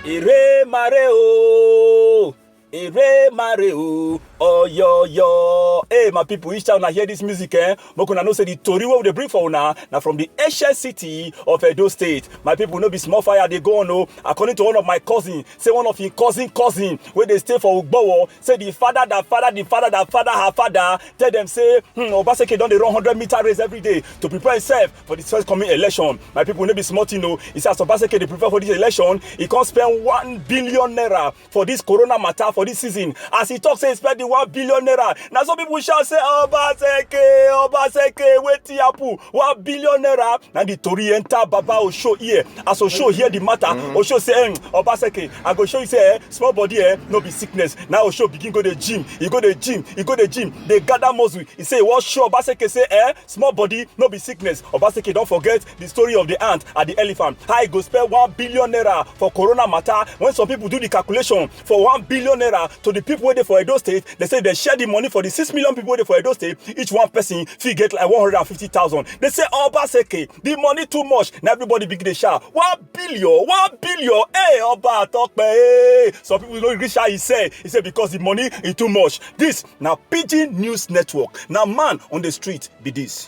èrè mare o èrè mare o ọyọyọ hey my people each time una hear this music eh make una know say the tori wey we dey bring for una na from the ancient city of edo state my people no be small fire dey go on o according to one of my cousin say one of him cousin cousin wey dey stay for ugbowo say the father that father the father that father her father tell them say hmm, obaseki don dey run hundred meter race every day to prepare himself for the first coming election my people no be small thing o he say as obaseki dey prepare for this election he come spend one billion naira for this corona matter for this season as he talk say he spend the one billion naira na so people shout say obaseki obaseki wetin happen one billion naira na the tori enter baba osho ear as osho hear the matter mm. osho say eh, obaseki i go show you say eh, small body eh no be sickness na osho begin go the gym e go the gym e go the gym dey gather muscle e say e wan show obaseke say eh small body no be sickness obaseke don forget the story of the ant and the elephant how e go spend one billion naira for corona matter when some people do the calculation for one billion naira to the people wey dey for edo state they say they share the money for the six million people wey dey for edo state each one person fit get like one hundred and fifty thousand they say obaseke the money too much na everybody begin dey shout one billion one billion hey ọba atọpẹ hey some people no gree shout he say he say because the money e too much this na pidgin news network na man on the street be this.